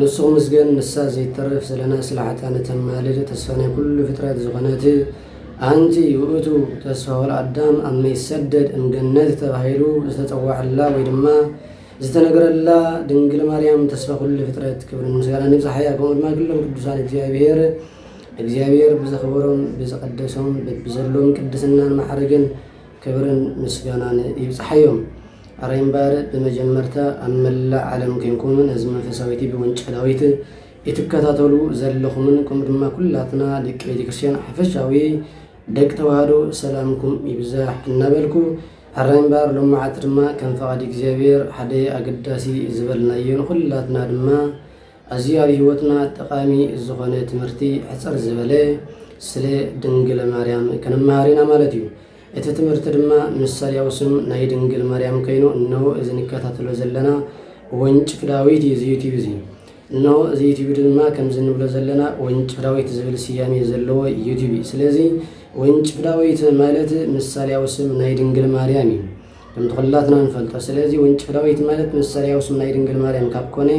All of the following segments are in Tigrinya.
ንሱ ክምስገን ንሳ ዘይትተርፍ ዘለና ስላሕታ ንተማልድ ተስፋ ናይ ኩሉ ፍጥረት ዝኾነት ኣንቲ ውእቱ ተስፋ ወልኣዳም ኣብ መይሰደድ እምገነት ተባሂሉ ዝተጸዋዐላ ወይ ድማ ዝተነገረላ ድንግል ማርያም ተስፋ ኩሉ ፍጥረት ክብርን ምስጋናን ይብጽሓያ ከምኡ ድማ ግሎም ቅዱሳን እግዚኣብሔር እግዚኣብሔር ብዘኽበሮም ብዝቐደሶም በብዘሎም ቅድስናን ማዕርግን ክብርን ምስጋናን ይብጽሓዮም። ኣረ እምበር ብመጀመርታ ኣብ መላእ ዓለም ኴንኩም ነዚ መንፈሳዊ ቲቪ ወንጨላዊት ኢትከታተሉ ዘለኹምን ከምኡ ድማ ኩላትና ደቂ ቤተክርስትያን ሓፈሻዊ ደቂ ተዋህዶ ሰላምኩም ይብዛሕ እናበልኩ ኣረ እምበር ሎም መዓልቲ ድማ ከም ፈቓድ እግዚኣብሔር ሓደ ኣገዳሲ ዝበልናዮ ንኹላትና ድማ ኣዚ ኣብ ሂወትና ጠቃሚ ዝኮነ ትምህርቲ ሕጽር ዝበለ ስለ ድንግል ማርያም ክንማሃር ኢና ማለት እዩ። እቲ ትምህርቲ ድማ ምሳልያዊ ስም ናይ ድንግል ማርያም ከይኑ እነሆ እዚ ንከታተሎ ዘለና ወንጭፍ ዳዊት እዩ እዚ ዩቲብ እዚ እነሆ እዚ ዩቲብ ድማ ከምዚ ንብሎ ዘለና ወንጭፍ ዳዊት ዝብል ስያሜ ዘለዎ ዩቲብ እዩ። ስለዚ ወንጭፍ ዳዊት ማለት ምሳሌያዊ ስም ናይ ድንግል ማርያም እዩ። ከምቲ ኩላትና ንፈልጦ ስለዚ ወንጭፍ ዳዊት ማለት ምሳሌያዊ ስም ናይ ድንግል ማርያም ካብ ኮነ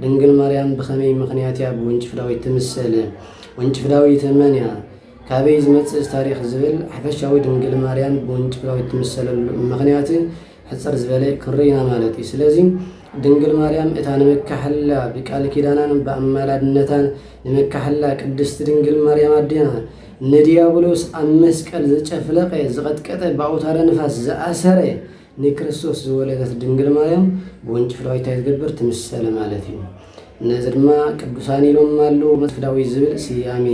ድንግል ማርያም ብኸመይ ምኽንያት እያ ብወንጭፍ ዳዊት ትምሰል ወንጭፍ ዳዊት መን እያ ካበይ ዝመጽእ ታሪክ ዝብል ሓፈሻዊ ድንግል ማርያም ብወንጭፍራዊ ትምሰለሉ ምክንያት ሕፅር ዝበለ ክንርኢና ማለት እዩ ስለዚ ድንግል ማርያም እታ ንምካሕላ ብቃል ኪዳናን ብኣማላድነታን ንምካሕላ ቅድስቲ ድንግል ማርያም ኣዴና ንድያብሎስ ኣብ መስቀል ዘጨፍለቐ፣ ዝቐጥቀጠ፣ ብኣውታረ ንፋስ ዝኣሰረ፣ ንክርስቶስ ዝወለደት ድንግል ማርያም ብውንጭፍላዊት እንታይ ትገብር? ትምሰል ማለት እዩ። ነዚ ድማ ቅዱሳን ኢሎም ኣለዉ፣ መትፍዳዊት ዝብል ስያሜ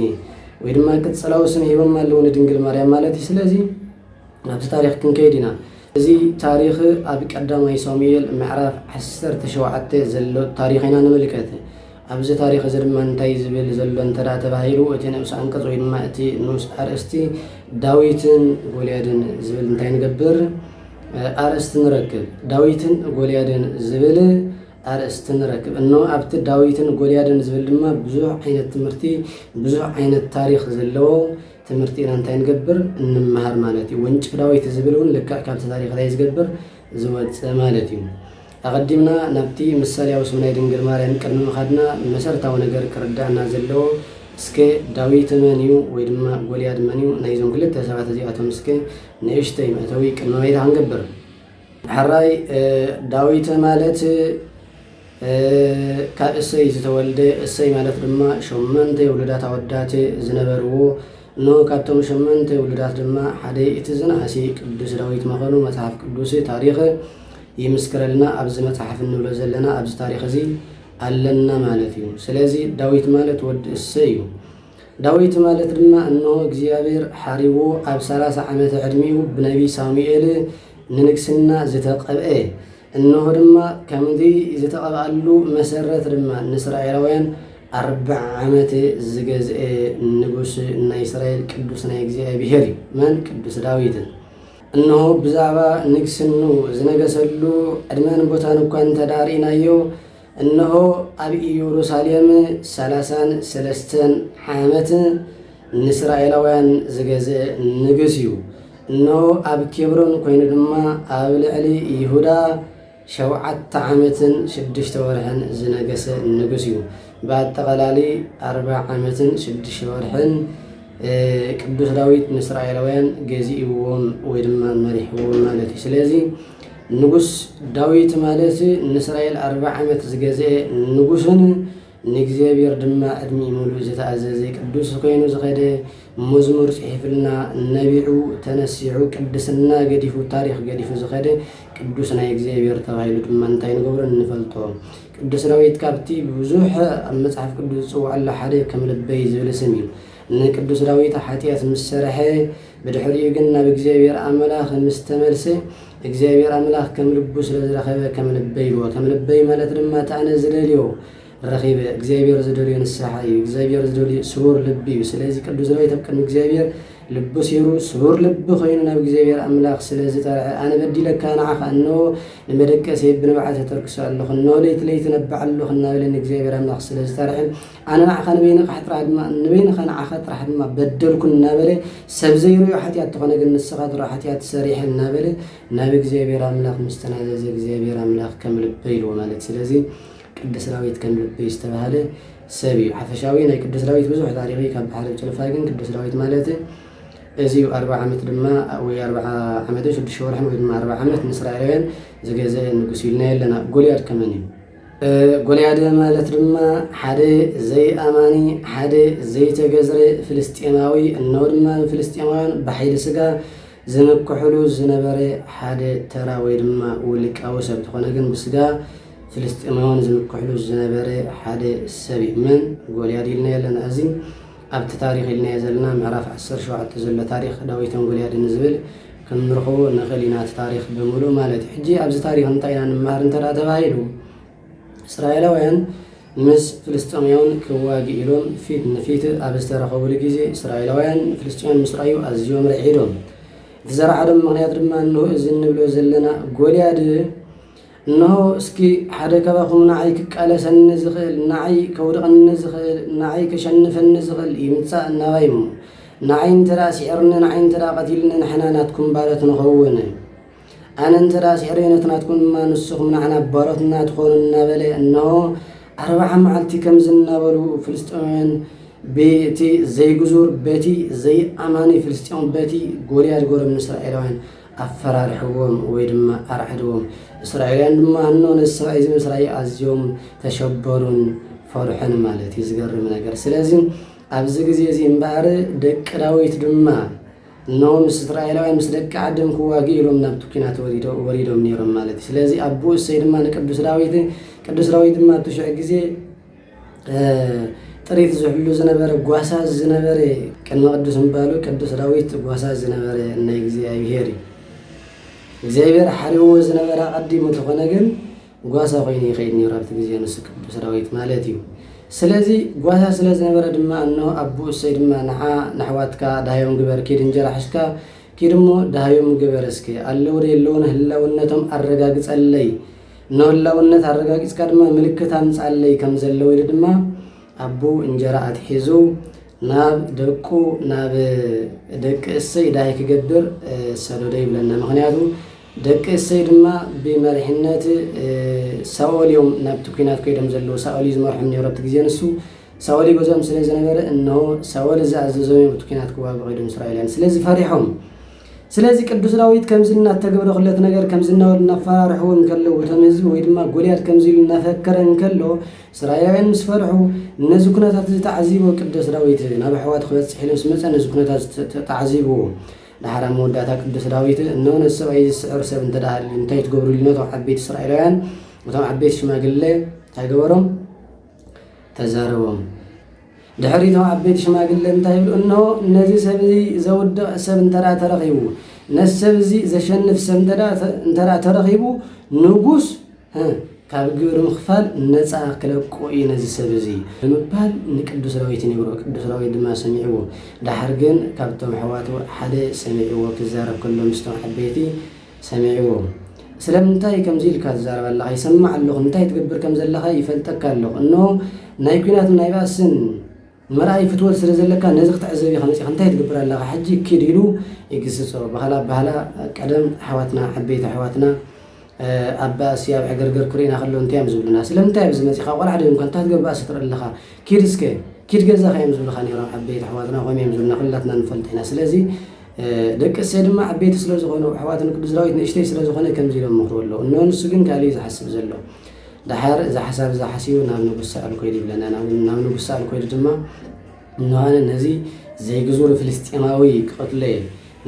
ወይ ድማ ቅጽላዊ ስም ሂቦም ኣለዉ ንድንግል ማርያም ማለት እዩ። ስለዚ ናብቲ ታሪኽ ክንከይድ ኢና። እዚ ታሪኽ ኣብ ቀዳማይ ሳሙኤል ምዕራፍ ዓሰርተ ሸውዓተ ዘሎ ታሪኽ ኢና ንምልከት። ኣብዚ ታሪኽ እዚ ድማ እንታይ እዩ ዝብል ዘሎ እንተ ተባሂሉ እቲ ንኡስ ኣንቀጽ ወይ ድማ እቲ ንኡስ ኣርእስቲ ዳዊትን ጎልያድን ዝብል እንታይ ንገብር ኣርእስቲ ንረክብ ዳዊትን ጎልያድን ዝብል ኣርእስቲ ንረክብ እኖ ኣብቲ ዳዊትን ጎልያድን ዝብል ድማ ብዙሕ ዓይነት ትምህርቲ ብዙሕ ዓይነት ታሪክ ዘለዎ ትምህርቲ ኢና እንታይ ንገብር እንመሃር ማለት እዩ ወንጭፍ ዳዊት ዝብል እውን ልክዕ ካብቲ ታሪክ እንታይ ዝገብር ዝወፅእ ማለት እዩ ኣቐዲምና ናብቲ ምሳልያዊ ስም ናይ ድንግል ማርያም ቅድሚ ምኻድና መሰረታዊ ነገር ክርድኣና ዘለዎ እስከ ዳዊት መን እዩ ወይ ድማ ጎልያድ መን እዩ ናይዞም ክልተ ሰባት እዚኣቶም እስከ ንእሽተይ መእተዊ ቅድመ ባይታ ክንገብር። ሕራይ ዳዊት ማለት ካብ እሰይ ዝተወልደ እሰይ ማለት ድማ ሸሞንተ ውሉዳት ኣወዳት ዝነበርዎ እነሆ ካብቶም ሸሞንተ ውሉዳት ድማ ሓደ እቲ ዝነኣሰ ቅዱስ ዳዊት መኸኑ መጽሓፍ ቅዱስ ታሪኽ ይምስክረልና ኣብዚ መጽሓፍ እንብሎ ዘለና ኣብዚ ታሪኽ እዚ ኣለና ማለት እዩ ስለዚ ዳዊት ማለት ወዲ እሰ እዩ ዳዊት ማለት ድማ እነሆ እግዚኣብሔር ሓሪዎ ኣብ ሰላሳ ዓመተ ዕድሚኡ ብነቢይ ሳሙኤል ንንግስና ዝተቀብአ እንሆ ድማ ከምዚ ዝተቐብኣሉ መሰረት ድማ ንእስራኤላውያን ኣርብዓ ዓመት ዝገዝኤ ንጉስ ናይ እስራኤል ቅዱስ ናይ እግዚኣብሔር እዩ። መን? ቅዱስ ዳዊትን እንሆ ብዛዕባ ንግስኑ ዝነገሰሉ ዕድመን ቦታን እኳ እንተዳርኢናዮ እነሆ ኣብ ኢየሩሳሌም ሰላሳን ሰለስተን ዓመት ንእስራኤላውያን ዝገዝእ ንግስ እዩ። እነሆ ኣብ ኬብሮን ኮይኑ ድማ ኣብ ልዕሊ ይሁዳ ሸውዓተ ዓመትን ሽዱሽተ ወርሕን ዝነገሰ ንጉስ እዩ። ብኣጠቓላሊ ኣርባ ዓመትን ሽዱሽተ ወርሕን ቅዱስ ዳዊት ንእስራኤላውያን ገዚእዎም ወይ ድማ መሪሕዎም ማለት እዩ። ስለዚ ንጉስ ዳዊት ማለት ንእስራኤል ኣርብዓ ዓመት ዝገዝኤ ንጉስን ንእግዚኣብሔር ድማ ዕድሚኡ ምሉእ ዝተኣዘዘ ቅዱስ ኮይኑ ዝኸደ መዝሙር ጽሒፍልና ነቢዑ ተነሲዑ ቅድስና ገዲፉ ታሪኽ ገዲፉ ዝኸደ ቅዱስ ናይ እግዚኣብሔር ተባሂሉ ድማ እንታይ ንገብሮ ንፈልጦ ቅዱስ ዳዊት ካብቲ ብዙሕ ኣብ መጽሓፍ ቅዱስ ዝጽውዐሉ ሓደ ከም ልበይ ዝብል ስም እዩ ንቅዱስ ዳዊት ሓጢኣት ምስ ሰርሐ ብድሕሪኡ ግን ናብ እግዚኣብሔር ኣምላኽ ምስ ተመልሰ እግዚኣብሔር ኣምላኽ ከም ልቡ ስለ ዝረኸበ ከም ልበይ ኢልዎ። ከም ልበይ ማለት ድማ እቲ ኣነ ዝደልዮ ረኺበ። እግዚኣብሔር ዝደልዮ ንስሓ እዩ። እግዚኣብሔር ዝደልዮ ስቡር ልቢ እዩ። ስለዚ ቅዱስ ዳዊት ኣብ ቅድሚ እግዚኣብሔር ልቡ ሲሩ ስቡር ልቢ ኮይኑ ናብ እግዚኣብሔር ኣምላኽ ስለ ዝጠርዐ ኣነ በዲለካ ንዓኻ እኖ ንመደቀሰ ብንብዓት ተተርክሶ ኣለኹ እኖ ለይቲ ለይቲ ነባዕ ኣለኹ እናበለ ንእግዚኣብሔር ኣምላኽ ስለ ዝጠርዐ ኣነ ንዓኻ ንበይንኻ ጥራሕ ድማ ንበይንኻ ንዓኻ ጥራሕ ድማ በደልኩ እናበለ ሰብ ዘይርእዮ ሓጢኣት ተኾነ ግን ንስኻ ድሮ ሓጢኣት ሰሪሐ እናበለ ናብ እግዚኣብሔር ኣምላኽ ምስ ተናዘዘ እግዚኣብሔር ኣምላኽ ከም ልበይ ኢልዎ ማለት ስለዚ ቅዱስ ዳዊት ከም ልበይ ዝተባህለ ሰብ እዩ ሓፈሻዊ ናይ ቅዱስ ዳዊት ብዙሕ ታሪኽ እዩ ካብ ባሕሪ ጭልፋ ግን ቅዱስ ዳዊት ማለት እዚ እዩ ኣርባ ዓመት ድማ ወይ ኣርባ ዓመትን ሽዱሽተ ወርሕን ወይ ድማ ኣርባ ዓመት ንእስራኤላውያን ዝገዘአ ንጉስ ኢልና የለና ጎልያድ ከመን እዩ ጎልያደ ማለት ድማ ሓደ ዘይኣማኒ ሓደ ዘይተገዝረ ፍልስጤማዊ እነሆ ድማ ብፍልስጤማውያን ብሓይሊ ስጋ ዝምክሕሉ ዝነበረ ሓደ ተራ ወይ ድማ ውልቃዊ ሰብ ተኾነ ግን ብስጋ ፍልስጤማውያን ዝምክሕሉ ዝነበረ ሓደ ሰብ እዩ። መን ጎልያድ ኢልና ኣለና እዚ ኣብቲ ታሪኽ ኢልናዮ ዘለና ምዕራፍ ዓሰርተ ሸውዓተ ዘሎ ታሪኽ ዳዊትን ጎልያድን ዝብል ክንርኽቦ ንኽእል ኢና፣ እቲ ታሪኽ ብምሉኡ ማለት እዩ። ሕጂ ኣብዚ ታሪኽ እንታይ ኢና ንመሃር እንተ ተባሂሉ፣ እስራኤላውያን ምስ ፍልስጤማውያን ክዋግኡ ኢሎም ፊት ንፊት ኣብ ዝተረኸቡሉ ግዜ እስራኤላውያን ንፍልስጤማውያን ምስ ረኣዩ ኣዝዮም ርዒዶም። እቲ ዘርዓዶም ምኽንያት ድማ እንሆ እዚ እንብሎ ዘለና ጎልያድ እንሆ እስኪ ሓደ ካባኹም ንዓይ ክቃለሰኒ ዝኽእል፣ ንዓይ ከውድቐኒ ዝኽእል፣ ንዓይ ከሸንፈኒ ዝኽእል ይምጻእ ናባይ እሞ ንዓይ እንተ ስዒርኒ፣ ንዓይ እንተ ቀቲልኒ ንሕና ናትኩም ባሮት ንኸውን፣ ኣነ እንተ ስዒረዮ ነቲ ናትኩም ድማ ንስኹም ንዓና ባሮትና ትኾኑ እናበለ እንሆ ኣርብዓ መዓልቲ ከምዚ እናበሉ ፍልስጤማውያን በቲ ዘይግዙር በቲ ዘይኣማኒ ፍልስጤም በቲ ጎልያድ ጎረም እስራኤላውያን ኣፈራርሕዎም ወይ ድማ ኣርዓድዎም። እስራኤላውያን ድማ እኖ ነዚ ሰብኣይ እዚ ምስ ረኣዩ ኣዝዮም ተሸበሩን ፈርሑን ማለት እዩ። ዝገርም ነገር ስለዚ ኣብዚ ግዜ እዚ እምበኣር ደቂ ዳዊት ድማ እነሆ ምስ እስራኤላውያን ምስ ደቂ ዓድም ክዋግኡ ኢሎም ናብቲ ኲናት ወሪዶም ነይሮም ማለት እዩ ስለዚ ኣቦ እሰይ ድማ ንቅዱስ ዳዊት ቅዱስ ዳዊት ድማ ኣብቲ ሽዑ ግዜ ጥሪት ዝሕሉ ዝነበረ ጓሳ ዝነበረ ቅድመ ቅዱስ ምባሉ ቅዱስ ዳዊት ጓሳ ዝነበረ ናይ እግዚኣብሄር እዩ እግዚኣብሄር ሓሪዎ ዝነበረ ኣቐዲሙ ተኾነ ግን ጓሳ ኮይኑ ይኸይድ ነይሩ ኣብቲ ግዜ ንሱ ቅዱስ ዳዊት ማለት እዩ ስለዚ ጓሳ ስለ ዝነበረ ድማ እኖ ኣቦ እሰይ ድማ ንዓ ንኣሕዋትካ ዳሃዮም ግበር ኪድ እንጀራ ሕዝካ ኪድ እሞ ዳሃዮም ግበር እስከ ኣለውዶ የለውን ህላውነቶም ኣረጋግፀለይ ንህላውነት ኣረጋጊጽካ ድማ ምልክት ኣምጻለይ ከም ዘለው ኢሉ ድማ ኣቡ እንጀራ ኣትሒዙ ናብ ደቁ ናብ ደቂ እሰይ ዳይ ክገብር ሰደዶ ይብለና ምክንያቱ ደቂ እሰይ ድማ ብመሪሕነት ሳኦል እዮም ናብቲ ኩናት ኮይዶም ዘለው ሳኦል እዩ ዝመርሖም ነይሩ ኣብቲ ግዜ ንሱ ሳኦል ይገዝኦም ስለ ዝነበረ እንሆ ሳኦል እዚ ኣዘዞም እዮም እቲ ኩናት ክዋግዑ ከይዶም እስራኤልያን ስለዚ ፈሪሖም ስለዚ ቅዱስ ዳዊት ከምዚ እናተገብረ ኹለት ነገር ከም ዝናወል እናፈራርሕዎ እንከለዉ እቶም ህዝቢ ወይ ድማ ጎልያድ ከምዚ ኢሉ እናፈከረ እንከሎ እስራኤላውያን ምስ ፈርሑ ነዚ ኩነታት እዚ ተዓዚቦ ቅዱስ ዳዊት ናብ ኣሕዋቱ ክበጽሕ ኢሉ ምስ መጸ ነዚ ኩነታት ተዓዚብዎ ድሓር ኣብ መወዳእታ ቅዱስ ዳዊት እነሆ ነዚ ሰብኣይ ዝስዕር ሰብ እንተ ሃልዩ እንታይ ትገብሩ ኢሉ ነቶም ዓበይቲ እስራኤላውያን እቶም ዓበይቲ ሽማግለ እንታይ ገበሮም ተዛረቦም። ድሕሪ እቶም ዓበይቲ ሽማግለ እንታይ ይብሉ? እነሆ ነዚ ሰብ እዚ ዘውድቕ ሰብ እንተ ደኣ ተረኺቡ፣ ነዚ ሰብ እዚ ዘሸንፍ ሰብ እንተ ደኣ ተረኺቡ፣ ንጉስ ካብ ግብሪ ምኽፋል ነፃ ክለቆ እዩ ነዚ ሰብ እዚ ብምባል ንቅዱስ ዳዊት ይነግሮ። ቅዱስ ዳዊት ድማ ሰሚዕዎ። ድሓር ግን ካብቶም ኣሕዋቱ ሓደ ሰሚዕዎ ክዛረብ ከሎ ምስቶም ዓበይቲ ሰሚዕዎ ስለምንታይ ከምዚ ኢልካ ትዛረብ ኣለኻ ይሰምዕ ኣለኹ እንታይ ትገብር ከም ዘለኻ ይፈልጠካ ኣለኹ እንሆ ናይ ኩናትን ናይ ባእስን መርኣይ ፍትወት ስለ ዘለካ ነዚ ክትዕዘብ ኢኻ መጺኻ እንታይ ትገብር ኣለኻ ሕጂ ኪድ ኢሉ ይግስጾ ባህላ ባህላ ቀደም ኣሕዋትና ዓበይቲ ኣሕዋትና ኣብ ባእሲ ኣብ ዕገርገር ክርእና ከሎ እንታይ እዮም ዝብሉና ስለምንታይ ኣብዚ መጺኻ ቆልዓ ደምካ እንታይ ትገብር ባእሲ ትርኢ ኣለኻ ኪድ እስከ ኪድ ገዛኻ እዮም ዝብልኻ ነይሮም ዓበይቲ ኣሕዋትና ከምኡ እዮም ዝብሉና ኩላትና ንፈልጥ ኢና ስለዚ ደቂ እሴይ ድማ ዓበይቲ ስለ ዝዀኑ፣ ኣሕዋቱ ንቅዱስ ዳዊት ንእሽተይ ስለ ዝዀነ ከምዚ ኢሎም መኽርዎ ኣለዉ፣ እንሆ፣ ንሱ ግን ካልእ እዩ ዝሓስብ ዘሎ። ደሓር እዛ ሓሳብ እዛ ሓሲቡ ናብ ንጉስ ሳኦል ኰይዱ ይብለና፣ ናብ ንጉስ ሳኦል ኰይዱ ድማ፣ እንሆ፣ ኣነ ነዚ ዘይግዙር ፍልስጥኤማዊ ክቐትሎ እየ፣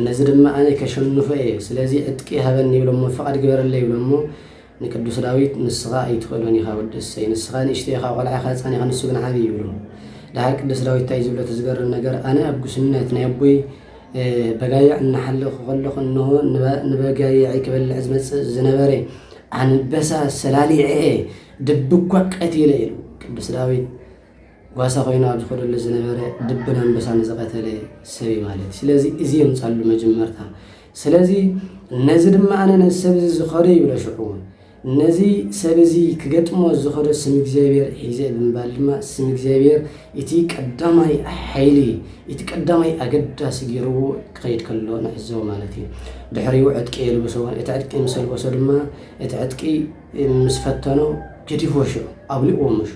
ነዚ ድማ ኣነ ከሸንፎ እየ፣ ስለዚ ዕጥቂ ሃበኒ ይብሎ እሞ፣ ፍቓድ ግበረለይ ይብሎ እሞ፣ ንቅዱስ ዳዊት ንስኻ ኣይትኽእሎን ኢኻ ወዲ እሰይ ንስኻ ንእሽተይ ኢኻ ቆልዓ ኢኻ ህጻን ኢኻ ንሱ ግን ዓቢ እዩ ይብሎ ደሓር ቅዱስ ዳዊት እንታይ ዝብሎ እቲ ዝገርም ነገር ኣነ ኣብ ጉስነት ናይ ኣቦይ በጋይዕ እናሓለኹ ከለኹ እንሆ ንበጋይዐይ ክበልዕ ዝመጽእ ዝነበረ ኣንበሳ ሰላሊዐ ድብኳ ቀቲለ ኢሉ ቅዱስ ዳዊት ጓሳ ኮይኑ ኣብ ዝኸደሉ ዝነበረ ድብን ኣንበሳን ዝቐተለ ሰብ እዩ ማለት እዩ። ስለዚ እዚ የምጻሉ መጀመርታ። ስለዚ ነዚ ድማ ኣነ ነዚ ሰብ እዚ ዝኸዶ ይብሎ ሽዑ ነዚ ሰብ እዚ ክገጥሞ ዝኸዶ ስም እግዚኣብሔር ሒዘ ብምባል ድማ ስም እግዚኣብሔር እቲ ቀዳማይ ሓይሊ እቲ ቀዳማይ ኣገዳሲ ገይርዎ ክኸይድ ከሎ ንዕዘቦ ማለት እዩ። ድሕሪኡ ዕጥቂ የልብሶ። እቲ ዕጥቂ ምስ ኣልበሶ ድማ እቲ ዕጥቂ ምስ ፈተኖ ገዲፎ ሽዑ ኣውሊቕዎ ምሹ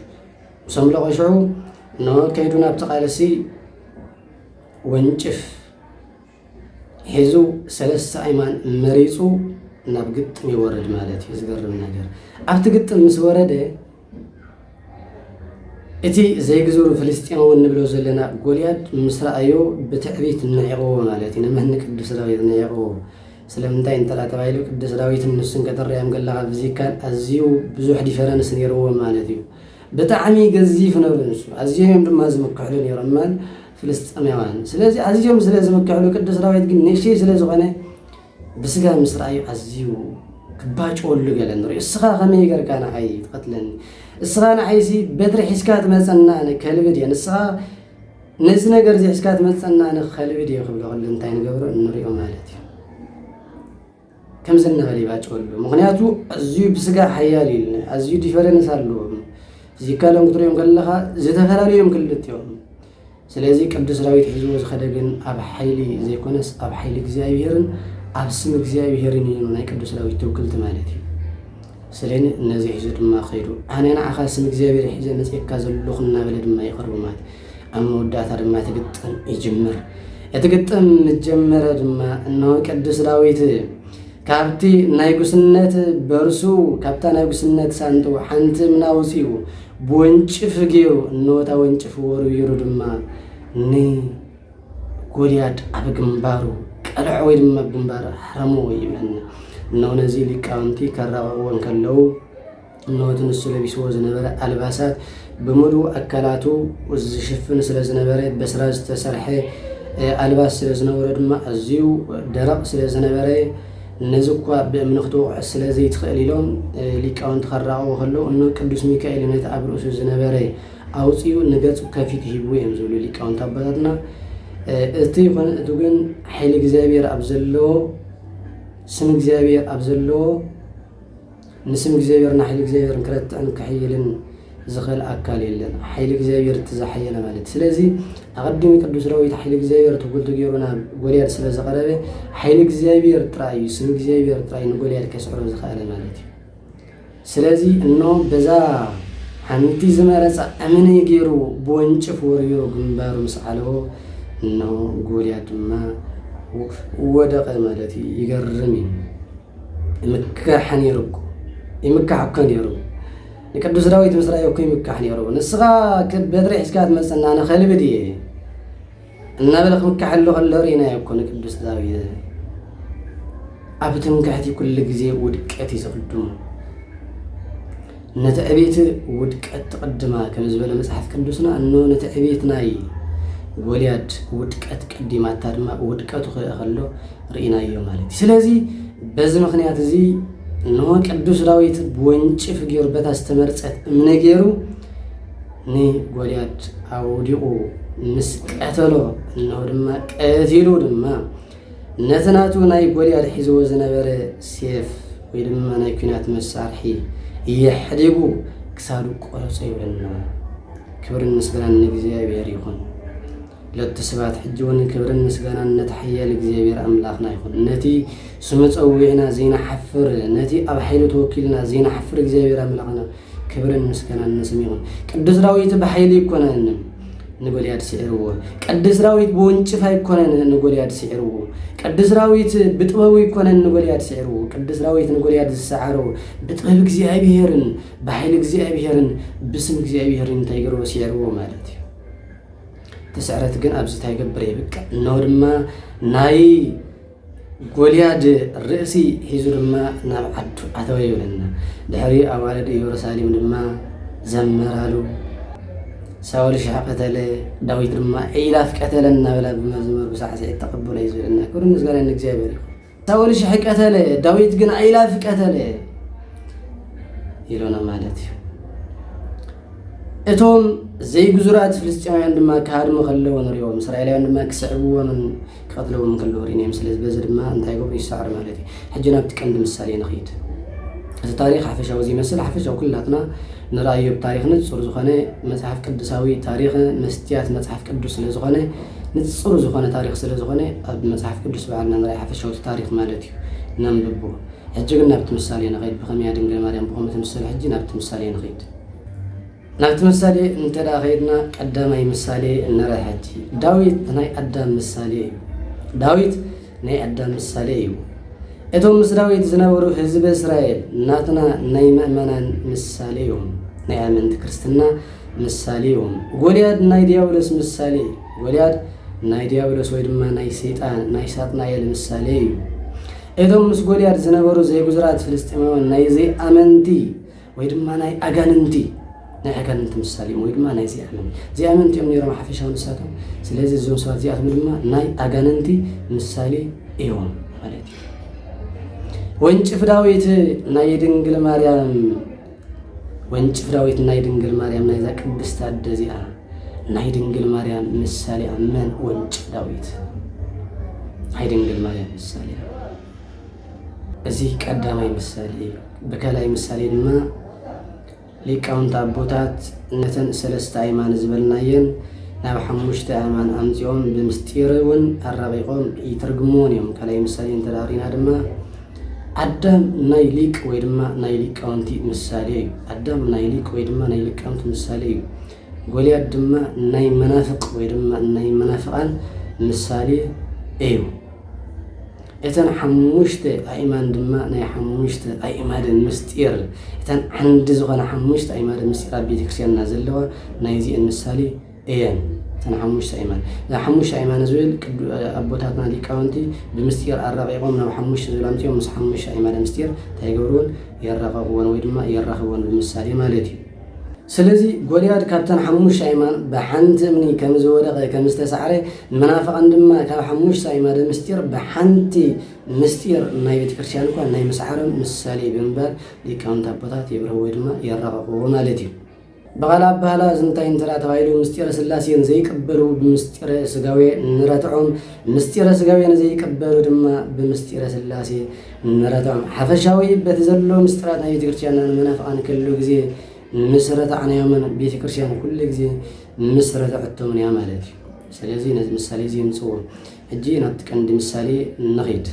ምስ ኣምለቖ ሽዑ እነሆ ከይዱ ናብ ተቓለሲ ወንጭፍ ሒዙ ሰለስተ ኣይማን መሪፁ ናብ ግጥም ይወርድ ማለት እዩ። ዝገርም ነገር ኣብቲ ግጥም ምስ ወረደ እቲ ዘይግዙሩ ፍልስጤማዊ እንብሎ ዘለና ጎልያድ ምስ ረኣዮ ብትዕቢት ንዒቕዎ ማለት እዩ ንምህኒ ቅዱስ ዳዊት ንዒቕዎ ስለምንታይ እንተላ ተባሂሉ ቅዱስ ዳዊትን ንሱን ከተረዮም ከለካ ብዚካን ኣዝዩ ብዙሕ ዲፈረንስ ነይርዎ ማለት እዩ ብጣዕሚ ገዚፍ ነሩ ንሱ ኣዝዮም እዮም ድማ ዝምክሕሉ ነሮም መን ፍልስጥኤማውያን ስለዚ ኣዝዮም ስለ ዝምክሕሉ ቅዱስ ዳዊት ግን ንእሽተይ ስለ ዝኾነ ብስጋ ምስ ረኣዩ ኣዝዩ ክባጭወሉ ገለ ንሪኦ እስኻ ከመይ ገርካ ንዓይ ትቐትለኒ እስኻ ንዓይሲ በትሪ ሒዝካ ትመፀና ኣነ ከልቢ ድየ ንስኻ ነዚ ነገር እዚ ሒዝካ ትመፀና ኣነ ከልቢ ድየ ክብሎ ከሎ እንታይ ንገብሮ ንሪኦ ማለት እዩ ከምዚ እናበለ ይባጨወሉ ምክንያቱ ኣዝዩ ብስጋ ሓያል እዩ ልና ኣዝዩ ዲፈረንስ ኣለዎም ፊዚካሎም ክትሪኦም ከለኻ ዝተፈላለዩ እዮም ክልቲኦም ስለዚ ቅዱስ ዳዊት ሒዝዎ ዝኸደ ግን ኣብ ሓይሊ ዘይኮነስ ኣብ ሓይሊ እግዚኣብሄርን ኣብ ስም እግዚኣብሄርን እዩ ናይ ቅዱስ ዳዊት ትውክልቲ ማለት እዩ ሰሌን ነዚ ሒዙ ድማ ከይዱ። ኣነ ንዓኻ ስም እግዚኣብሔር ሒዘ መጺኤካ ዘለኹ እናበለ ድማ ይቐርቦ ማለት ኣብ መወዳእታ ድማ እቲ ግጥም ይጅምር። እቲ ግጥም ምስ ጀመረ ድማ እነሆ ቅዱስ ዳዊት ካብቲ ናይ ጉስነት በርሱ ካብታ ናይ ጉስነት ሳንጡ ሓንቲ ምና ውፅኡ ብወንጭፍ ገይሩ እነወታ ወንጭፍ ወርዊሩ ድማ ን ጎልያድ ኣብ ግንባሩ ቀልዖ ወይ ድማ ግንባር ኣሕረሞ ይብል። እነሆ ነዚ ሊቃውንቲ ከራቕቕዎ እንከለዉ እነሆ እቲ ንሱ ለቢስዎ ዝነበረ ኣልባሳት ብምሉእ ኣካላቱ ዝሽፍን ስለ ዝነበረ በስራ ዝተሰርሐ ኣልባስ ስለ ዝነበሮ ድማ ኣዝዩ ደረቕ ስለ ዝነበረ ነዚ እኳ ብእምኒ ክትወቕዖ ስለ ዘይትኽእል ኢሎም ሊቃውንቲ ከራቕቑ ከለዉ እነሆ ቅዱስ ሚካኤል ነቲ ኣብ ርእሱ ዝነበረ ኣውጺኡ ንገጹ ከፊቱ ሂብዎ እዮም ዝብሉ ሊቃውንቲ ኣቦታትና እቲ ይኾነ እቲ ግን ሓይሊ እግዚኣብሔር ኣብ ዘለዎ ስም እግዚኣብሔር ኣብ ዘለዎ ንስም እግዚኣብሔርን ሓይሊ እግዚኣብሔርን ክረትዕን ክሕይልን ዝኽእል ኣካል የለን ሓይሊ እግዚኣብሔር እቲ ዝሓየለ ማለት ስለዚ ኣቐዲሚ ቅዱስ ዳዊት ሓይሊ እግዚኣብሔር ትጉልቲ ገይሩ ናብ ጎልያድ ስለ ዝቐረበ ሓይሊ እግዚኣብሔር ጥራይ እዩ ስም እግዚኣብሔር ጥራይ ንጎልያድ ከስዕሮ ዝኸኣለ ማለት እዩ ስለዚ እኖ በዛ ሓንቲ ዝመረጻ እምኒ ገይሩ ብወንጭፍ ወርዊሩ ግንባሩ ምስ ዓለቦ እነሆ ጎልያድ ድማ ወደቐ ማለት እዩ። ይገርም እዩ። ይምካሕ ነይሩ እኮ ይምካሕ እኮ ነይሩ ንቅዱስ ዳዊት ምስ ረኣዮ እኮ ይምካሕ ነይሩ። ንስኻ በትሪ ሒዝካ ትመጽና ንኸልቢ ድየ እናበለ ክምካሐሉ ከሎ ርኢናዮ እኮ ንቅዱስ ዳዊት ኣብ ትምክሕቲ ኩሉ ግዜ ውድቀት እዩ ዝቕድሙ ነቲ ዕቤት ውድቀት ትቕድማ ከም ዝበለ መፅሓፍ ቅዱስና እኖ ነቲ ዕቤት ናይ ጎልያድ ውድቀት ቀዲማታ ድማ ውድቀቱ ክእ ከሎ ርኢናዮ ማለት እዩ ስለዚ በዚ ምክንያት እዚ እነሆ ቅዱስ ዳዊት ብወንጭፍ ገይሩ በታ ዝተመርፀት እምነ ገይሩ ንጎልያድ ኣውዲቑ ምስ ቀተሎ እንሆ ድማ ቀቲሉ ድማ ነቲ ናቱ ናይ ጎልያድ ሒዝዎ ዝነበረ ሴፍ ወይ ድማ ናይ ኩናት መሳርሒ እየሕዲጉ ክሳዱ ቆረፆ ይብለና። ክብርን ምስጋናን ንእግዚኣብሔር ይኹን። ለቱ ስባት ሕጂ እውን ክብርን ምስጋናን ነቲ ሓያል እግዚኣብሔር ኣምላኽና ይኹን። ነቲ ስሙ ፀዊዕና ዘይናሓፍር ነቲ ኣብ ሓይሉ ተወኪልና ዘይናሓፍር እግዚኣብሔር ኣምላኽና ክብርን ምስጋናን ንስም ይኹን። ቅዱስ ዳዊት ብሓይሊ ይኮነን ንጎልያድ ስዒርዎ። ቅዱስ ዳዊት ብወንጭፍ ኣይኮነን ንጎልያድ ስዒርዎ። ቅዱስ ዳዊት ብጥበቡ ይኮነን ንጎልያድ ስዒርዎ። ቅዱስ ዳዊት ንጎልያድ ዝሰዓሮ ብጥበብ እግዚኣብሔርን ብሓይሊ እግዚኣብሔርን ብስም እግዚኣብሔርን እንታይ ገርዎ ስዒርዎ ማለት እዩ። እቲ ስዕረት ግን ኣብዚ እንታይ ገብር የብቅዕ እነሆ ድማ ናይ ጎልያድ ርእሲ ሒዙ ድማ ናብ ዓዱ ኣተወ ይብለና። ድሕሪ ኣዋልድ ኢየሩሳሌም ድማ ዘመራሉ። ሳውል ሽሕ ቀተለ፣ ዳዊት ድማ ኢላፍ ቀተለ እናበላ ብመዝሙር ብሳዕስዒት ተቐበሎ እዩ ዝብለና። ክብሪ ምስጋና ንእግዚኣብሔር ይኹን። ሳውል ሽሕ ቀተለ፣ ዳዊት ግን ኢላፍ ቀተለ ይሎና ማለት እዩ። እቶም ዘይግዙራት ፍልስጤማውያን ድማ ክሃድሙ ከለዎ ንሪኦም፣ እስራኤላውያን ድማ ክስዕብዎምን ክቐትልዎ እውን ከለዉ ርኢናዮም። ስለዚ በዚ ድማ እንታይ ይገብሩ? ይሰዕሩ ማለት እዩ። ሕጂ ናብቲ ቀንዲ ምሳሌ ንኺድ። እቲ ታሪኽ ሓፈሻዊ ዚመስል ሓፈሻዊ ኩላትና ንርኣዮ ብታሪኽ ንጹር ዝኾነ መጽሓፍ ቅዱሳዊ ታሪኽ መስትያት መጽሓፍ ቅዱስ ስለ ዝኾነ ንጹር ዝኾነ ታሪኽ ስለ ዝኾነ ኣብ መጽሓፍ ቅዱስ በዓልና ንርኣይ ሓፈሻዊ እቲ ታሪኽ ማለት እዩ ነንብቦ ሕጂ ግን ናብቲ ምሳሌ ንኸይድ ብኸመያ ድንግል ማርያም ብኸምኡ ትምሰል ሕጂ ናብቲ ምሳሌ ንኸይድ ናብቲ ምሳሌ እንተ ኸይድና ቀዳማይ ምሳሌ ንርኣ ሕጂ። ዳዊት ናይ ኣዳም ምሳሌ እዩ። ዳዊት ናይ ኣዳም ምሳሌ እዩ። እቶም ምስ ዳዊት ዝነበሩ ህዝቢ እስራኤል ናትና ናይ ምእመናን ምሳሌ እዮም። ናይ ኣመንቲ ክርስትና ምሳሌ እዮም። ጎልያድ ናይ ዲያብሎስ ምሳሌ እዩ። ጎልያድ ናይ ዲያብሎስ ወይ ድማ ናይ ሰይጣን ናይ ሳጥናኤል ምሳሌ እዩ እቶም ምስ ጎልያድ ዝነበሩ ዘይብዙራት ፍልስጢማውያን ናይ ዘይኣመንቲ ወይ ድማ ናይ ኣጋንንቲ ናይ ኣጋንንቲ ምሳሌ እዮም ወይ ድማ ናይ ዚኣምን ዚኣምንቲ እዮም ነይሮም ሓፈሻዊ ንሳቶም ስለዚ እዞም ሰባት እዚኣቶም ድማ ናይ ኣጋንንቲ ምሳሌ እዮም ማለት እዩ ወንጭፍ ዳዊት ናይ ድንግል ማርያም ወንጭፍ ዳዊት ናይ ድንግል ማርያም ናይዛ ቅድስት ኣደ እዚኣ ናይ ድንግል ማርያም ምሳሌ መን ወንጭፍ ዳዊት ናይ ድንግል ማርያም ምሳሌ እዚ ቀዳማይ ምሳሌ እዩ። ብካልኣይ ምሳሌ ድማ ሊቃውንቲ ኣቦታት ነተን ሰለስተ ኣይማን ዝበልናየን ናብ ሓሙሽተ ኣእማን ኣምፂኦም ብምስጢር እውን ኣራቂቆም ይትርግምዎን እዮም። ካልኣይ ምሳሌ እንተዳሪና ድማ ኣዳም ናይ ሊቅ ወይ ድማ ናይ ሊቃውንቲ ምሳሌ እዩ ኣዳም ናይ ሊቅ ወይ ድማ ናይ ሊቃውንቲ ምሳሌ እዩ ጎልያድ ድማ ናይ መናፍቅ ወይ ድማ ናይ መናፍቃን ምሳሌ እዩ እተን ሓሙሽተ ኣእማን ድማ ናይ ሓሙሽተ ኣእማድን ምሥጢር፣ እተን ዓንዲ ዝኾና ሓሙሽተ ኣእማድን ምሥጢር ኣብ ቤተ ክርስቲያንና ዘለዋ ናይዚኤን ምሳሌ እየን። እተን ሓሙሽተ ኣእማን ናይ ሓሙሽተ ኣእማን ዝብል ቅዱ ኣቦታትና ሊቃውንቲ ብምስጢር ኣራቂቆም ናብ ሓሙሽተ ዝብል ኣምጺኦም ምስ ሓሙሽተ ኣእማደ ምሥጢር እንታይ ይገብርወን የራቀቅወን ወይ ድማ የራኽብወን ብምሳሌ ማለት እዩ። ስለዚ ጎልያድ ካብተን ሓሙሽተ ኣእማን ብሓንቲ እምኒ ከም ዝወደቐ፣ ከም ዝተሳዕረ፣ ንመናፍቓን ድማ ካብ ሓሙሽተ ኣእማደ ምስጢር ብሓንቲ ምስጢር ናይ ቤተ ክርስቲያን እኳ ናይ ምስዓሮም ምሳሌ ብምባል ሊቃውንት ኣቦታት የብርህዎ ወይ ድማ የራቐቕዎ ማለት እዩ። ብኻልእ ኣባህላ እዚ እንታይ እንተደኣ ተባሂሉ ምስጢረ ሥላሴ ንዘይቅበሉ ብምስጢረ ሥጋዌ ንረትዖም፣ ምስጢረ ሥጋዌ ንዘይቅበሉ ድማ ብምስጢረ ሥላሴ ንመረታም ሓፈሻዊ በቲ ዘሎ ምስጢራት ናይ ቤተክርስቲያንና ንመናፍቓን ከሉ ግዜ ምስ ረታዕናዮምን ቤተክርስቲያን ኩሉ ግዜ ምስ ረተዐቶምን እያ ማለት እዩ። ስለዚ ነዚ ምሳሌ እዚ የምጽዎ። ሕጂ ናብቲ ቀንዲ ምሳሌ ንኺድ።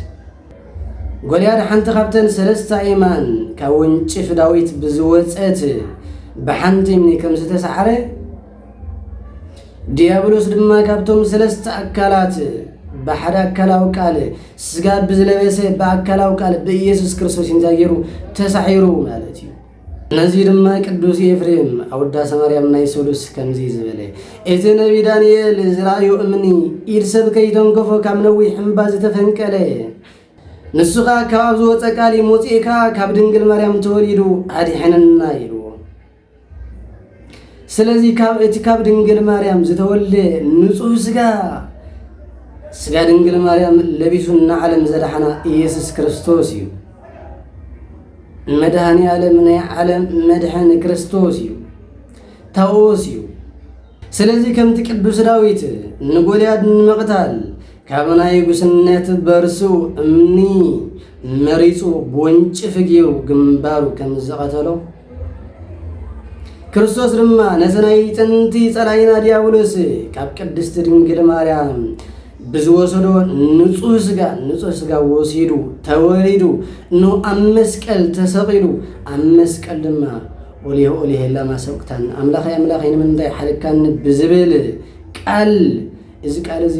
ጎልያድ ሓንቲ ካብተን ሰለስተ ኣየማን ካብ ወንጭፍ ዳዊት ብዝወጸት ብሓንቲም ከም ዝተሳዕረ ዲያብሎስ ድማ ካብቶም ሰለስተ ኣካላት ብሓደ ኣካላዊ ቃል ስጋ ብዝለበሰ ብኣካላዊ ቃል ብኢየሱስ ክርስቶስ እንታይ ገይሩ ተሳዒሩ ማለት እዩ ነዚ ድማ ቅዱስ ኤፍሬም ኣወዳ ሰማርያም ናይ ሱሉስ ከምዚ ዝበለ እቲ ነቢ ዳንኤል ዝረኣዩ እምኒ ኢድ ሰብ ከይተንከፎ ካብ ነዊሕ እምባ ዝተፈንቀለ ንሱ ኸዓ ካብ ኣብ ዝወፀ ቃል ሞፂእካ ካብ ድንግል ማርያም ተወሊዱ ኣድሐነና ኢሉ ስለዚ ካብ እቲ ካብ ድንግል ማርያም ዝተወልደ ንጹህ ስጋ ስጋ ድንግል ማርያም ለቢሱ ንዓለም ዘድሓና ኢየሱስ ክርስቶስ እዩ መድኃኔ ዓለም ናይ ዓለም መድሕን ክርስቶስ እዩ ታዎስ እዩ ስለዚ ከምቲ ቅዱስ ዳዊት ንጎልያድ ንምቕታል ካብ ናይ ጉስነት በርሱ እምኒ መሪጹ ብወንጭፊ ገይሩ ግንባሩ ከም ዝቐተሎ ክርስቶስ ድማ ነቲ ናይ ጥንቲ ጸላይና ዲያብሎስ ካብ ቅድስቲ ድንግል ማርያም ብዝወሰዶ ንጹህ ስጋ ንጹህ ስጋ ወሲዱ ተወሊዱ ን ኣብ መስቀል ተሰቒሉ ኣብ መስቀል ድማ ኦሊሆ ኦሊሄ ላማ ሰበቅታኒ፣ ኣምላኸይ ኣምላኸይ ንምንታይ ሓደግካኒ ብዝብል ቃል፣ እዚ ቃል እዚ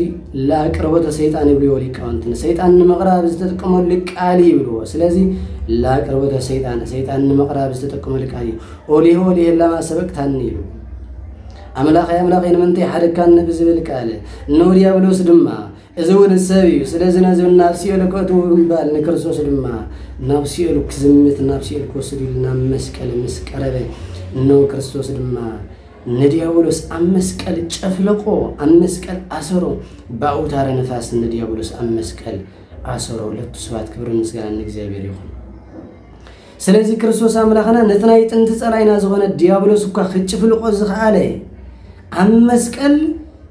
ላቅርቦተ ሰይጣን ይብልዎ ሊቃውንቲ፣ ንሰይጣን ንምቕራብ ዝተጥቀመሉ ቃል ይብልዎ። ስለዚ ላቅርቦተ ሰይጣን፣ ሰይጣን ንምቕራብ ዝተጠቀመሉ ቃል እዩ። ኦሊሆ ኦሊሄ ላማ ሰበቅታኒ ይብሉ። ኣምላኸይ ኣምላኸይ ንምንታይ ሓደግካኒ ብዝብል ቃል፣ ንዲያብሎስ ድማ እዚ ውሉድ ሰብ እዩ፣ ስለዚ ነዚ ናብ ሲኦል ከእትዎ ብምባል ንክርስቶስ ድማ ናብ ሲኦል ክዝምት ናብ ሲኦል ክወስድ ኢሉ ናብ መስቀል ምስ ቀረበ እነሆ ክርስቶስ ድማ ንዲያብሎስ ኣብ መስቀል ጨፍለቆ፣ ኣብ መስቀል ኣሰሮ፣ ብኣውታረ ነፋስ ንዲያብሎስ ኣብ መስቀል ኣሰሮ። ለቱ ስብሐት ክብርን ምስጋናን ንእግዚኣብሔር ይኹን። ስለዚ ክርስቶስ ኣምላኽና ነቲ ናይ ጥንቲ ጸላኢና ዝኾነ ዲያብሎስ እኳ ክጭፍልቆ ዝኸኣለ ኣብ መስቀል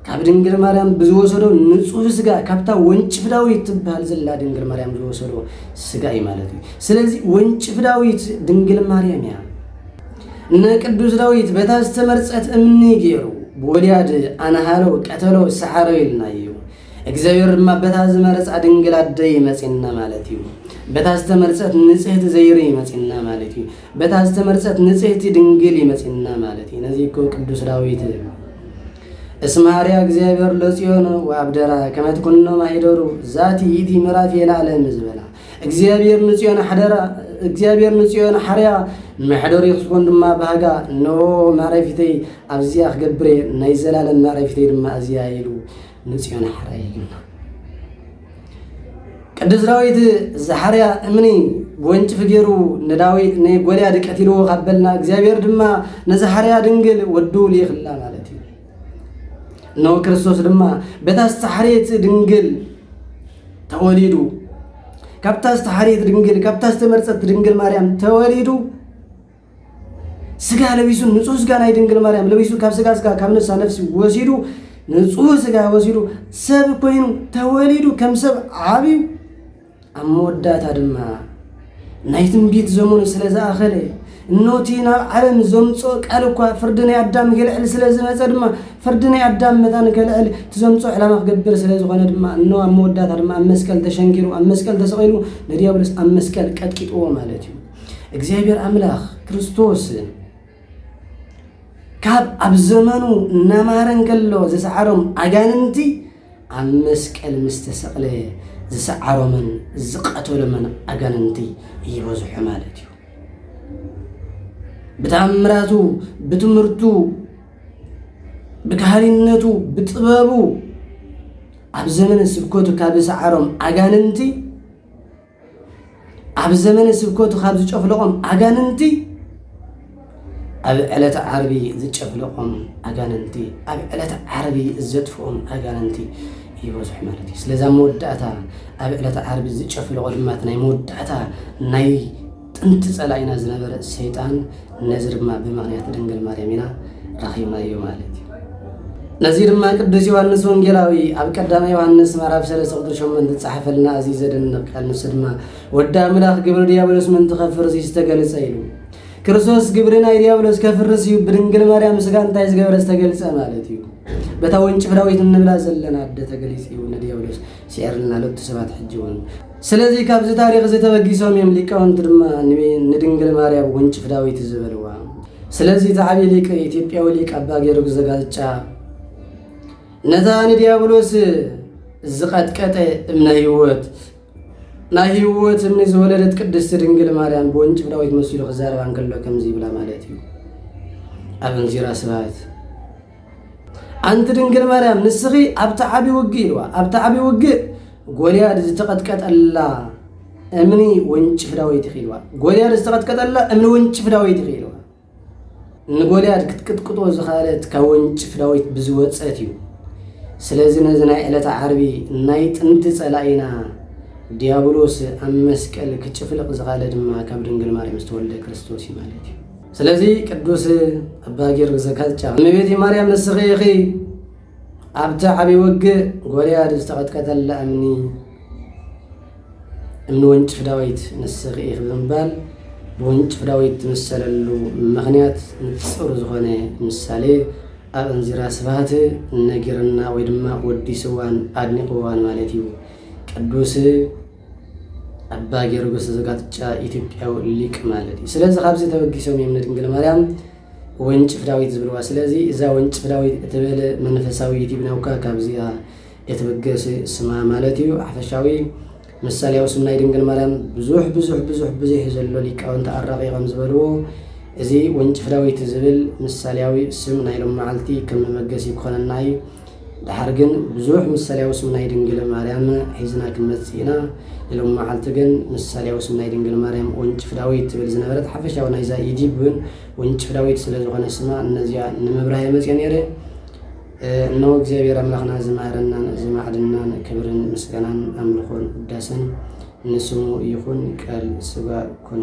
ካብ ድንግል ማርያም ብዝወሰዶ ንጹህ ስጋ ካብታ ወንጭፍ ዳዊት ትበሃል ዘላ ድንግል ማርያም ዝወሰዶ ስጋ እዩ ማለት እዩ። ስለዚ ወንጭፍ ዳዊት ድንግል ማርያም እያ። ንቅዱስ ዳዊት በታ ዝተመርጸት እምኒ ገይሩ ብወልያድ ኣናሃረው ቀተለው ሰዓረው ኢልና እዩ እግዚኣብሔር ድማ በታ ዝመረፃ ድንግል ኣደ ይመፅና ማለት እዩ። በታ ዝተመርፀት ንፅህቲ ዘይሩ ይመፅና ማለት እዩ። በታ ዝተመርፀት ንፅህቲ ድንግል ይመፅና ማለት እዩ። ነዚ እኮ ቅዱስ ዳዊት እስመ ሃርያ እግዚኣብሔር ለጽዮን ወኣብደራ ከመ ትኩኖ ማኅደሩ ዛቲ ይእቲ ምዕራፍ የለዓለም ዝበላ እግዚኣብሔር ንጽዮን ሓደራ እግዚኣብሔር ንጽዮን ሓርያ መሕደሪ ክትኮን ድማ ባህጋ እነሆ መዕረፊተይ ኣብዚኣ ክገብረ ናይ ዘላለም መዕረፊተይ ድማ እዚኣ ኢሉ ንጽዮን ሓረይ ይግና ቅዱስ ዳዊት ዝሓርያ እምኒ ጎንጭፊ ገይሩ ንዳዊት ንጎልያድ ቀቲልዎ ካብ በልና እግዚኣብሔር ድማ ንዝሓርያ ድንግል ወዱ ልይኽላ ማለት እዩ እነሆ ክርስቶስ ድማ በታ ዝተሓርየት ድንግል ተወሊዱ ካብታ ዝተሓርየት ድንግል ካብታ ዝተመርፀት ድንግል ማርያም ተወሊዱ ስጋ ለቢሱ ንጹህ ስጋ ናይ ድንግል ማርያም ለቢሱ ካብ ስጋ ስጋ ካብ ነፍሳ ነፍሲ ወሲዱ ንጹህ ስጋ ወሲዱ ሰብ ኮይኑ ተወሊዱ ከም ሰብ ዓብዩ ኣብ መወዳእታ ድማ ናይ ትንቢት ዘመኑ ስለ ዝኣኸለ እኖቲ ናብ ዓለም ዘምፅኦ ቃል እኳ ፍርዲ ናይ ኣዳም ክልዕል ስለ ዝመፀ ድማ ፍርዲ ናይ ኣዳም መታን ከልዕል እቲ ዘምፅኦ ዕላማ ክገብር ስለ ዝኾነ ድማ እኖ ኣብ መወዳእታ ድማ ኣብ መስቀል ተሸንኪሩ ኣብ መስቀል ተሰቂሉ ንዲያብሎስ ኣብ መስቀል ቀጥቂጥዎ ማለት እዩ እግዚኣብሔር ኣምላኽ ክርስቶስ ካብ ኣብ ዘመኑ እናማረ እንከሎ ዝሰዓሮም ኣጋንንቲ ኣብ መስቀል ምስ ተሰቕለ ዝሰዓሮምን ዝቐተሎምን ኣጋንንቲ ይበዝሑ ማለት እዩ ብተኣምራቱ ብትምህርቱ ብካህሪነቱ ብጥበቡ ኣብ ዘመነ ስብከቱ ካብ ዝሰዓሮም ኣጋንንቲ ኣብ ዘመነ ስብከቱ ካብ ዝጨፍለቖም ኣጋንንቲ ኣብ ዕለተ ዓርቢ ዝጨፍለቖም ኣጋንንቲ ኣብ ዕለተ ዓርቢ ዘጥፍኦም ኣጋንንቲ ይበዝሑ ማለት እዩ ስለዛ መወዳእታ ኣብ ዕለተ ዓርቢ ዝጨፍለቖ ድማ ናይ መወዳእታ ናይ ጥንቲ ጸላኢና ዝነበረ ሰይጣን ነዚ ድማ ብምኽንያት ድንግል ማርያም ኢና ረኺብናዮ ማለት እዩ። ነዚ ድማ ቅዱስ ዮሐንስ ወንጌላዊ ኣብ ቀዳማይ ዮሐንስ ምዕራፍ 3 ቁጥር 8 ዝጸሓፈልና እዚ ዘደንቕ ቃል ንሱ ድማ ወዲ ኣምላኽ ግብሪ ዲያብሎስ ምእንቲ ከፍርስ እዩ ዝተገልጸ ኢሉ ክርስቶስ ግብሪ ናይ ዲያብሎስ ከፍርስ እዩ ብድንግል ማርያም ስጋ እንታይ ዝገበረ ዝተገልጸ ማለት እዩ በታ ወንጭፍ ዳዊት እንብላ ዘለና ኣደ ተገሊጽ እዩ ንዲያብሎስ ስዒርልና ሎቱ ሰባት ሕጂ እውን ስለዚ ካብዚ ታሪኽ እዚ ተበጊሶም እዮም ሊቃውንቲ ድማ ንድንግል ማርያም ወንጭፍ ዳዊት ዝበልዋ። ስለዚ እቲ ዓብዪ ሊቅ ኢትዮጵያዊ ሊቅ ኣባ ጊዮርጊስ ዘጋስጫ ነታ ንዲያብሎስ ዝቐጥቀጠ እምነ ህይወት ናይ ህይወት እምኒ ዝወለደት ቅድስቲ ድንግል ማርያም ብወንጭፍ ዳዊት መሲሉ ክዛረባ እንከሎ ከምዚ ይብላ ማለት እዩ ኣብ እንዚራ ስብሃት ኣንቲ ድንግል ማርያም ንስኺ ኣብቲ ዓብዪ ውግእ ኢልዋ ኣብቲ ዓብዪ ውግእ ጎልያድ ዝተቐጥቀጠላ እምኒ ወንጭፍ ዳዊት ይኽኢልዋ ጎልያድ ዝተቐጥቀጠላ እምኒ ወንጭፍ ዳዊት ይኽኢልዋ ንጎልያድ ክትቅጥቅጦ ዝኻለት ካብ ወንጭፍ ዳዊት ብዝወፀት እዩ ስለዚ ነዚ ናይ ዕለተ ዓርቢ ናይ ጥንቲ ፀላኢና ዲያብሎስ ኣብ መስቀል ክጭፍልቕ ዝኻለ ድማ ካብ ድንግል ማርያም ዝተወልደ ክርስቶስ እዩ ማለት እዩ ስለዚ ቅዱስ ኣባ ጊዮርጊስ ዘካዝጫ እመቤቴ ማርያም ንስኺ ኢኺ ኣብቲ ዓብዪ ውግእ ጎልያድ ዝተቐጥቀጠላ እምኒ እምኒ ወንጭፍ ዳዊት ንስኺ ኢኺ ብምባል ብወንጭፍ ዳዊት ትምሰለሉ ምኽንያት ንጹር ዝኾነ ምሳሌ ኣብ እንዚራ ስብሃት ነጊርና ወይ ድማ ወዲስዋን ኣድኒቕዋን ማለት እዩ። ቅዱስ ኣባ ጊዮርጊስ ዘጋትጫ ኢትዮጵያዊ ሊቅ ማለት እዩ። ስለዚ ካብዚ ተበጊሶም እዮም ንድንግል ማርያም ወንጭፍ ዳዊት ዝብልዋ ስለዚ እዛ ወንጭፍ ዳዊት እትብል መንፈሳዊ ዩቲብ ናውካ ካብዚኣ እትብገስ ስማ ማለት እዩ ሓፈሻዊ ምሳሌያዊ ስም ናይ ድንግል ማርያም ብዙሕ ብዙሕ ብዙሕ ብዙሕ እዩ ዘሎ ሊቃውንቲ ኣራቒ ከም ዝበልዎ እዚ ወንጭፍ ዳዊት ዝብል ምሳሌያዊ ስም ናይ ሎም መዓልቲ ከም መበገሲ ክኾነና እዩ ደሓር ግን ብዙሕ ምሳልያዊ ስም ናይ ድንግል ማርያም ሒዝና ክንመጽእ ኢና። ንሎሚ መዓልቲ ግን ምሳልያዊ ስም ናይ ድንግል ማርያም ወንጭፍ ዳዊት ትብል ዝነበረት ሓፈሻዊ ናይዛ ኢዲብ እውን ወንጭፍ ዳዊት ስለ ዝኾነ ስማ እነዚኣ ንምብራህ እየ መጽየ ነይረ። እነሆ እግዚኣብሔር ኣምላኽና ዝማረናን ዝማዕድናን ክብርን ምስጋናን ኣምልኾን ውዳሰን ንስሙ ይኹን ቃል ስጋ ኮነ።